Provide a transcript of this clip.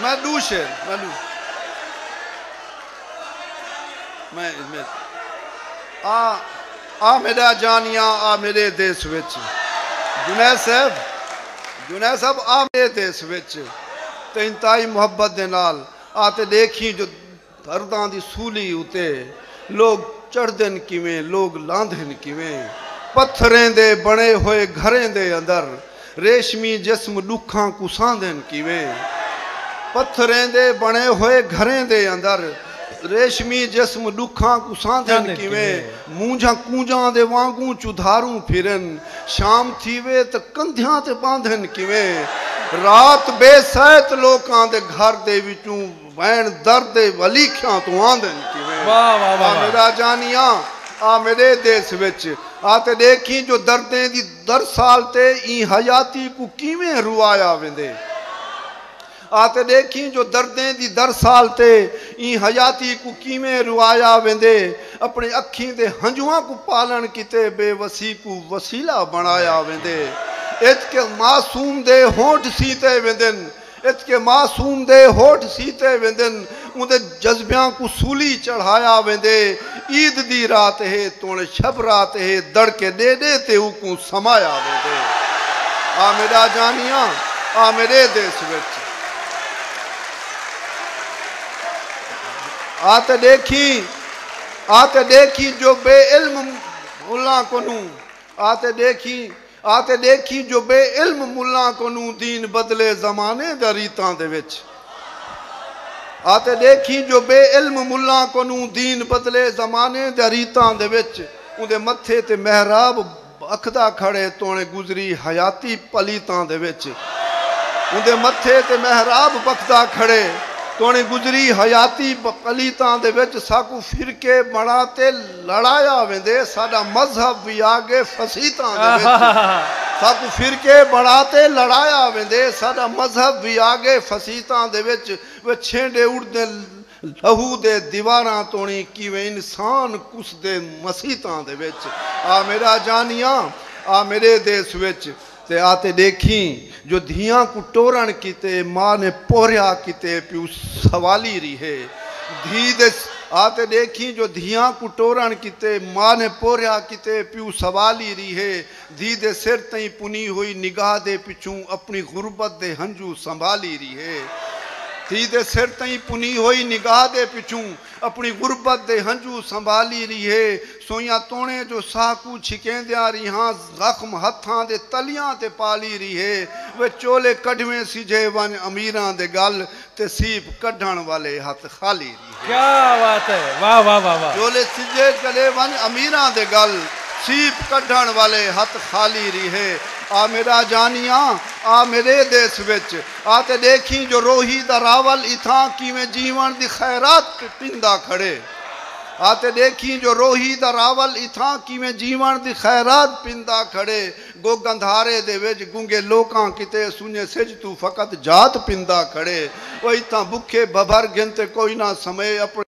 میں ڈو شعر آ میڈا جانیاں آ میڈے دیس وچ جنید صاحب جنید صاحب آ میڈے دیس وچ تیں انتہائی محبت دے نال آ تے ڈیکھیں جو درداں دی سولی اتے لوک چڑھدن کیویں لوک لاندھن کیویں پتھریں دے بݨے ہوئے گھریں دے اندر ریشمی جسم ݙکھاں کوں سہندن کیویں پتھریں دے بݨے ہوئے گھریں دے اندر ریشمی جسم ݙکھاں کوں سہندن کیویں مونجھاں کونجاں دے وانگوں چدھاروں پھرن شام تھیوے تاں کندھیاں تے ٻاندھن کیویں رات بے سیت لوکاں دے گھر دے وچوں وین درد ولیکھیاں توں آندن کیویں آ میڈا جانیاں آ میڈے دیس وچ آ تے ڈیکھیں جو دردیں دی درسال تے ایں حیاتی کوں کیویں روایا ویندے آ تے ڈیکھیں جو دردیں دی درسال تے ایں حیاتی کوں کیویں روایا ویندے اپنی اکھیں دے ہنجواں کوں پالن کیتے بے وسی کوں وسیلہ بنڑایا ویندے اچ کہ معصوم دے ہونٹ سیتے ویندن اچ کہ معصوم دے ہوٹھ سیتے ویندن، اوندے جذبیاں کوں سولی چڑھایا ویندے، عید دی رات ہے توݨ شب رات ہے، دڑکے ݙے ݙے تے اوکوں سمایا ویندے۔ آ میݙا جانیاں، آ میݙے دیس وچ۔ آ تے ݙیکھیں، آ تے ݙیکھیں جو بے علم ملاں کنوں، آ تے ݙیکھیں آ تے ݙیکھیں جو بے علم ملاں کنوں دین بدلے زمانے دا ریتاں دے وچ۔ آ تے ݙیکھیں جو بے علم ملاں کنوں دین بدلے زمانے دا ریتاں دے وچ اوندے متھے تے محراب اکھدا کھڑے توݨے گزری حیاتی پلیتاں دے وچ اوندے متھے تے محراب بکھدا کھڑے توݨے گزری حیاتی پلیتاں دے وچ ساکوں فرقے بݨا تے لڑایا ویندے ساڈا مذہب وی آگے فسیتاں دے وچ ساکوں فرقے بنڑا تے لڑایا ویندے ساڈا مذہب وی آگے فسیتاں دے وچ وے چھینڈے اڑدیں لہو دے دیواراں توڑی کیویں انسان کسدے مسیتاں دے وچ آ میڈا جانیاں آ میڈے دیس وچ تے آتے ڈیکھیں جو دھیاں کوں ٹورنڑ کیتے ماء نے پوہریا کیتے پیو سوالی ریہے دھی دے آتے ڈیکھیں جو دھیاں کوں ٹورنڑ کیتے ماء نے پوہریا کیتے پیو سوالی ریہے دھی دے سر تئیں پنی ہوئی نگاہ دے پچھوں اپنی غربت دے ہنجو سنبھالی ریہے دھی دے سر تئیں پنی ہوئی نگاہ دے پچھوں۔ اپݨی غربت دے ہنجو سنبھالی ریہے۔ سوئیاں توݨیں جو ساہ کوں چھکیندیاں ریہاں زخم ہتھاں دے تلیاں تے پالی ریہے۔ وے چولے کڈھویں سجھے ونڄ امیراں دے ڳل تے سیپ کڈھݨ والے ہتھ خالی ریہے۔ کیا بات ہے واہ واہ واہ واہ۔ چولے سجھے کڈھے ونڄ امیراں دے ڳل سیپ کڈھݨ والے ہتھ خالی ریہے۔ آ میݙا جانیاں آ میݙے دیس وچ۔ آ تے ݙیکھیں جو روہی دا راول اتھاں کیویں جیوݨ دی خیرات پیندا کھڑے آ تے ݙیکھیں جو روہی دا راول اتھاں کیویں جیوݨ دی خیرات پیندا کھڑے گو گندھارے دے وچ گنگے لوکاں کیتے سنڄے سجھ توں فقط ذات پیندا کھڑے او اتھاں بکھے بھبھر گھن تے کوئی نہ سمئے اپݨے